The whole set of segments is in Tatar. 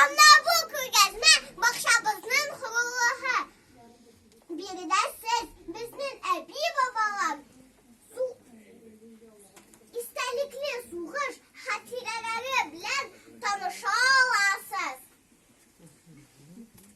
Анда бу күргәзмә бакчабызның хурулыгы. Биредә сез безнең әби-бабалар су истәлекле сугыш хатирәләре белән таныша аласыз.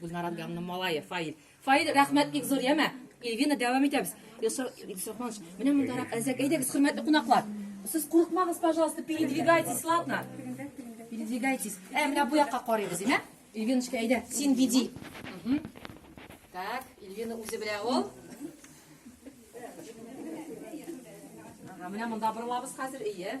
Гөлнар Адгамның малае Фаил. Фаил, рәхмәт бик зур, яме. Ильвина, дәвам итәбез. Ильсурманович, менә мондарак әзәк. Әйдәгез, хөрмәтле кунаклар. Сез курыкмагыз, пожалуйста, передвигайтесь, ладно? Передвигайтесь. Ә, менә бу якка карыйбыз, яме? Ильвиночка, әйдә, син биди. Так, Ильвина үзе белә ул. Ага, менә монда борылабыз хәзер, ие.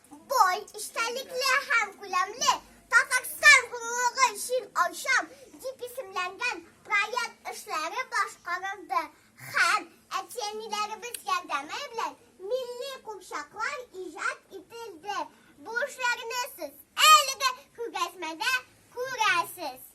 Бай эчтәлекле һәм күләмле Татарстан гомумлыгы өчен ачам дип исемләнгән проект эшләре башкарылды һәм әти-әниләребез ярдәме белән милли курчаклар иҗат ителде. Бу эшләрне сез әлеге күргәзмәдә күрәсез.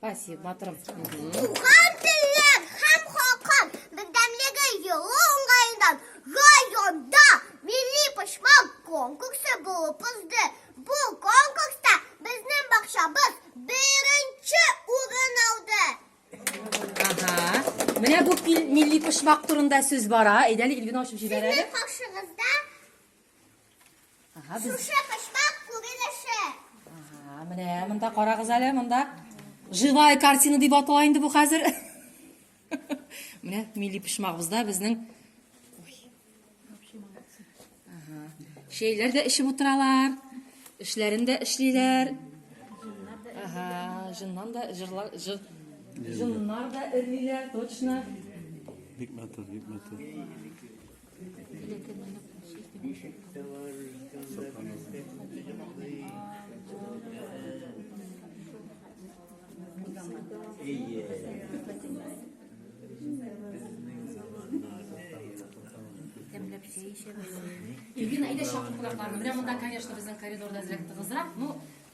Спасибо, батырым. Туган телләр һәм халкым бердәмлеге елы уңаеннан районда милли почмак конкурсы булып узды. Бу конкурста безнең бакчабыз беренче урын алды. Ага. Менә бу милли почмак турында сүз бара. Әйдәле Ильвина ачып җибәрәле. Кашыгызда Ага, без... Шушы почмак күрелеше. Ага, менә монда карагыз әле, монда живая картина дип атала инде бу хәзер. Менә милли пешмагыбызда безнең Ага. Шейләр дә эчеп утыралар. Эшләрен дә эшлиләр. Ага, жыннан да жырлар жыр. Жыннар да эрлиләр, точно. Бик матур, бик матур. Иргин, әйдә шатлыкларны. Менә монда, конечно, безнең коридорда зрәк тыгызрак, но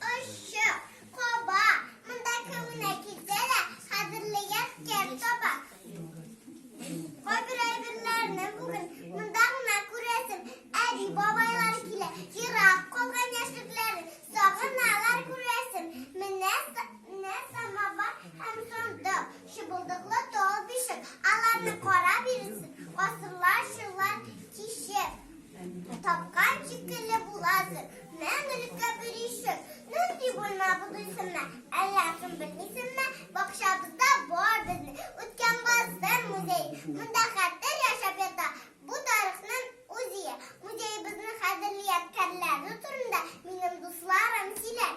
Ошчы, каба, монда кемне китә дә кадерлегән кем таба. Кайбер әйберләрне бүген монда гына күрәсең. Әби-бабайлар килә, ерак калган яшьлекләрен сагыналар күрәсең. Менә самавар һәм шундук чыбылдыклы тал бишек аларны карап йөрисең, гасырлар, еллар кичеп. Тапкан шикелле буласың, мәңгелеккә бер ишек. Нинди бүлмә бу дисеңме, әллә кем белмисеңме? Бакчабызда бар безнең үткән гасыр музее. Монда хәтер яшәп ята, бу тарихның үзие. Музеебезнең кадерле ядкәрләре турында минем дусларым сөйләр.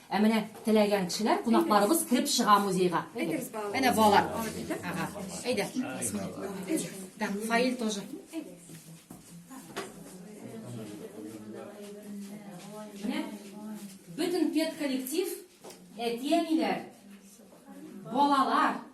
Ә менә теләгән кешеләр, кунакларыбыз кереп чыга музейга. Әнә балалар. Ага. Әйдә. Так, фаил тоже. Менә бөтен педколлектив, әти-әниләр, балалар,